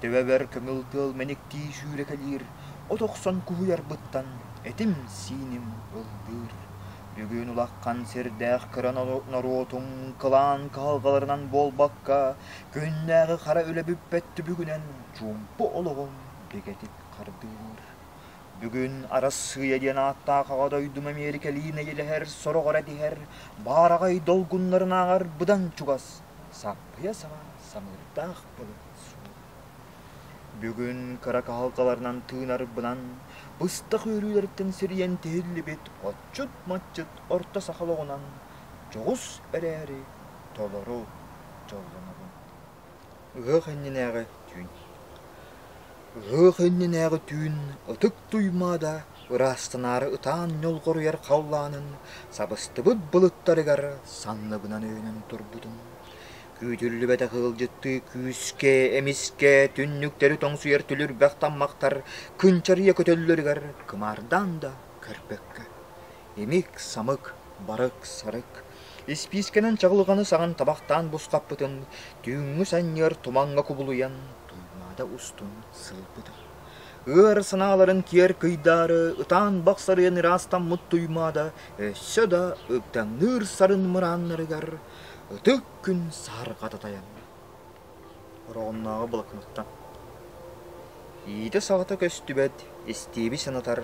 Төбөбөр көҥүл тыал мэниктии сүүрэкэлиир, от охсон куһуйарбыттан этим-сииним ыллыыр. Бүгүн улахан сирдээх кыра норуотуҥ кылаан кыһалҕаларынан буолбакка, күннээҕи хара үлэ бүппэт түбүгүнэн чуумпу олоҕум бигэтик хардыыр. Бүгүн Арассыыйа диэн ааттаах аҕа дойдум Эмиэрикэлии нэйилэһэр сорох эрэ тиһэр баараҕай долгуннарынааҕар быдан чугас саппыйа саҕа самыырдаах былыт суох. Бүгүн кыра кыһалҕаларынан тыынарбынан быстах үөрүүлэриттэн сирийэн тиһиллибит отчут-матчыт орто саха олоҕунан дьоҕус эрээри толору дьоллонобун. Ыһыах иннинээҕи түүн. Ыһыах иннинээҕи түүн ытык Туймаада ыраастанаары ытаан ньолҕоруйар халлаанын сабыстыбыт былыттарыгар санныбынан өйөнөн турбутум. Күүтүллүбэтэх ыалдьыттыы күүскэ, эмискэ түннүктэри тоҥсуйар түлүрбэх таммахтар кынчарыйа көтөллөрүгэр кымаардаан да көрбөккө, имик-самык, барык-сарык, испиискэнэн чаҕылҕаны саҕан табахтаан бусхаппытын түүҥҥү санньыар тумаҥҥа кубулуйан Туймаада устун сылбыта. Ыар санааларын киэр кыйдаары ытаан бахсарыйан ыраастаммыт Туймаада өссө да ыгдаҥныыр сарын мырааннарыгар Ытык күн сарҕата тайанна. Ороҕуннааҕы блокноттан. Иитэ-саҕата көстүбэт, истиэби санатар,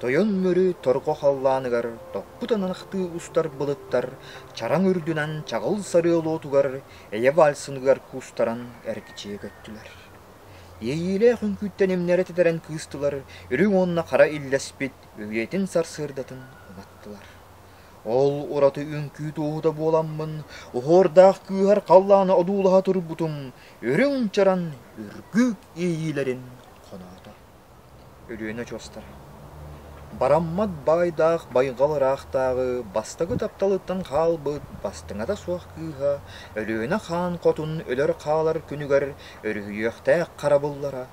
тойон мөрү торҕо халлааныгар топпут анахтыы устар былыттар чараҥ үрдүнэн чаҕыл сарыы олоотугар эйэ вальсыныгар куустаран эргичийэ көттүлэр. Иэйиилээх үҥкүүттэн имнэрэ титэрэн кыыстылар үрүҥ уонна хара иллэспит өйүөтүн сарсыардатын уматтылар. Ол ураты үҥкүү туоһута буоламмын, оһуордаах кыыһар халлаана одуулаһа турбутум үрүҥ чаран үргүүк иэйиилэрин хоноото. Өлүөнэ очуостара Бараммат баайдаах байҕал ыраахтааҕы бастакы тапталыттан хаалбыт бастыҥата суох кыыһа Өлүөнэ хаан хотун өлөр-хаалар күнүгэр өрүһүйүөхтээх харабыллара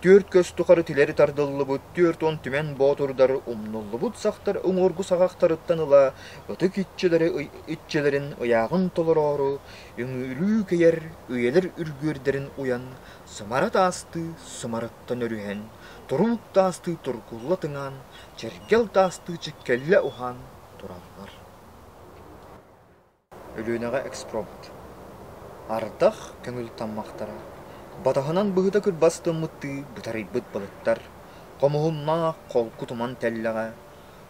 Түөрт көс тухары тилэри тардыллыбыт, түөрт уон түмэн боотурдар умнуллубут сахтар уҥуоргу саҕахтарыттан ыла ытык иччилэри иччилэрин ыйааҕын толороору үҥүүлүү кэйэр үйэлэр үргүөрдэрин уйан сымара таастыы сымарыттан өрүһэн, турумук таастыы тургулла тыҥаан, чэргэл таастыы чиккэллэ уһаан тураллар. Өлүөнэҕэ экспромт. Ардах көҥүл таммахтара. Батаһынан быһыта-күрбас тыммыттыы бытарыйбыт былыттар, хомуһуннаах холку туман тэллэҕэ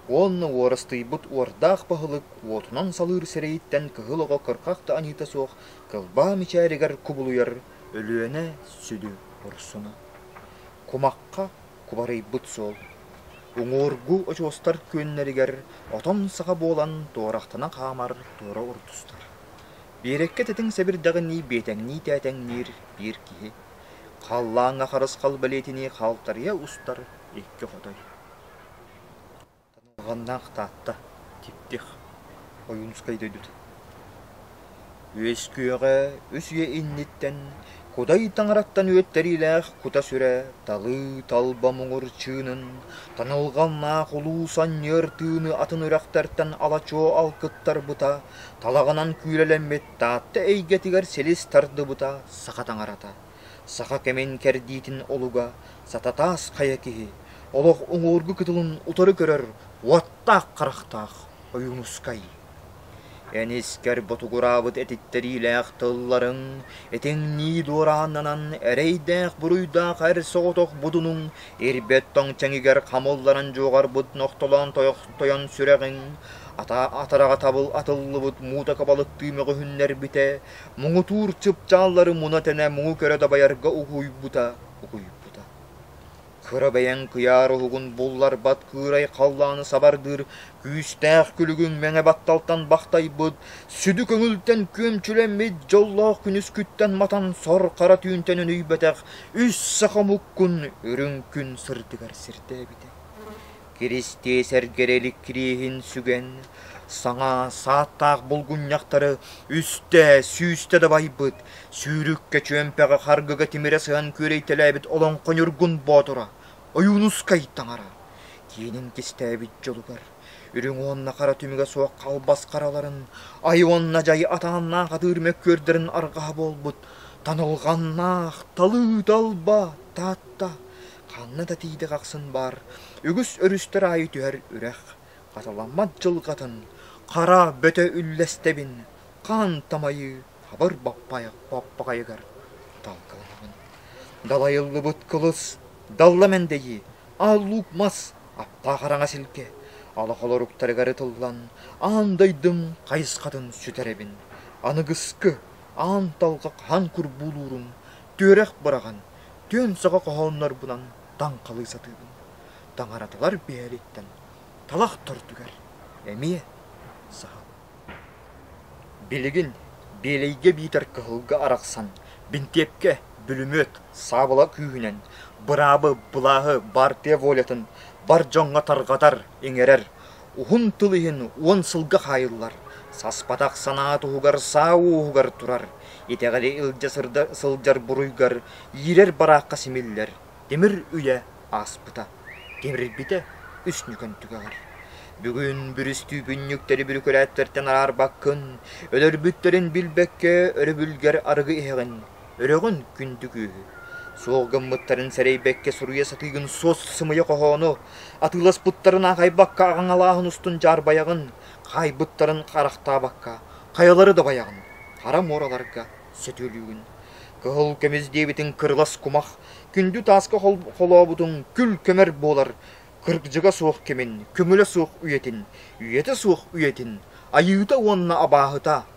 уонна уорастыйбыт уордаах баһылык уотунан салыыр сирэйиттэн кыһыл оҕо кырхах да аньыыта суох кылбаа мичээригэр кубулуйар Өлүөнэ сүдү урсуна. Кумахха кубарыйбыт суол. Уҥуоргу очуостар күөннэригэр отон саха буолан туорахтана хаамар туора урутустар. Биэрэккэ тэтиҥ сэбирдэҕинии биэтэҥнии тээтэҥниир биир киһи. Халлааҥҥа харысхал бэлиэтинии халтарыйа устар икки хотой. Танылҕаннаах Таатта, Типтих, Ойуунускай дойдутун Үөскүөҕэ үс үйэ инниттэн Кудай Таҥараттан үөттэриилээх кута-сүрэ талыы талба муҥур чыынын Танылҕаннаах улуус анньыар тыыны атын үрэхтэртэн ала-чуо алкыттарбыта Талаҕынан күүлэлэммит Таатта эйгэтигэр силис тардыбыта Саха таҥарата Саха кэмин кэрдиитин олуга сататаас хайа киһи олох уҥуоргу кытылын утары көрөр уоттаах-харахтаах Ойуунускай. Эн искэр ботугураабыт этиттэриилээх тылларын итиҥнии дуорааннанан эрэйдээх буруйдаах эр соҕотох будунуҥ ирбэт тоҥ чэҥигэр хамылларан дьуоҕарбыт нохтолоон тойон сүрэҕиҥ атараҕа табыл атыллыбыт муута кабалыктыы мөҕүһүннэрбитэ муҥутуур чыпчааллары муна тэнэ муҥу көрө дабайарга угуйбута угуйбута кыра бэйэҥ кыйаар уһугун булларбат кыырай халлааны сабардыыр күүстээх күлүгүҥ мэҥэ батталтан бахтайбыт сүдү көҥүлтэн күөмчүлэммит дьоллоох күнүскүттэн матан сор хара түүнтэн өнүйбэтэх үс саха муккун үрүҥ күн сырдыгар сирдээбитэ Киристиэсэргэр эликириэһин сүгэн, саҥа сааттаах булгунньахтары үстэ, сүүстэ дабайбыт, сүүрүккэ чүөмпэҕэ харгыга тимирэ сыһан күөрэйтэлээбит олоҥхо ньургун боотура, Ойуунускай таҥара, киэнин кистээбит дьолугар, үрүҥ уонна хара түмүгэ суох халбас хараларын, ай уонна дьай атааннаах атыыр мөккүөрдэрин арҕаһа буолбут танылҕаннаах талыы талба Таатта ханна да тиийдик ахсын баар үгүс өрүстэр аайы түһэр үрэх хатыламмат дьылҕатын хара бөтө үллэстэбин хаан тамайы хабыр баппайах баппаҕайыгар талкаланабын далайыллыбыт кылыс далла мэндэйи ааллуук мас аптаах араҥас илгэ олох олоруктарыгар ытыллан аан дойдум хайысхатын сүтэрэбин аныгыскы аан талҕа хаһан курбуулуурум Түөрэх быраҕан түөн сөҕө хоһооннорбунан таҥхалыы сатыыбын. Таҥараталар биэриттэн талах төрдүгэр эмиэ саһабын. Билигин Биэлэйгэ биитэр кыһылга арахсан бинтиэпкэ бүлүмүөт саабыла күүһүнэн быраабы былааһы баартыйа волятын бар дьоҥҥо тарҕатар, иҥэрэр уһун тыл иһин уон сылга хаайыллар, саспатах санаа туһугар саа уоһугар турар, итэҕэли илдьэ сырда сылдьар буруйгар иирэр бараахха симиллэр тимир үйэ ааспыта, тимирбитэ үс ньүкэн түгэҕэр. Бүгүн бүрүстүүпүнньүктэри бүрүкүлээттэртэн араарбаккын, өлөрбүттэрин билбэккэ өрөбүлгэр арыгы иһэҕин. Өрөҕүн күндү күүһү, суол гыммыттарын сэрэйбэккэ суруйа сатыыгын суос-сымыйа хоһоону, атыыласпыттарын аахайбакка аҕаҥалааһын устун дьаарбайаҕын, хаайбыттарын харахтаабакка, хайалары доҕайаҕын, хара муораларга сөтүөлүүгүн. Кыһыл көмүс диэбитиҥ кырылас кумах, күндү тааска холообутуҥ күл көмөр буолар, кыргыдьыга суох кэмин, көмүлэ суох үйэтин, үйэтэ суох үйэтин, айыыта уонна абааһыта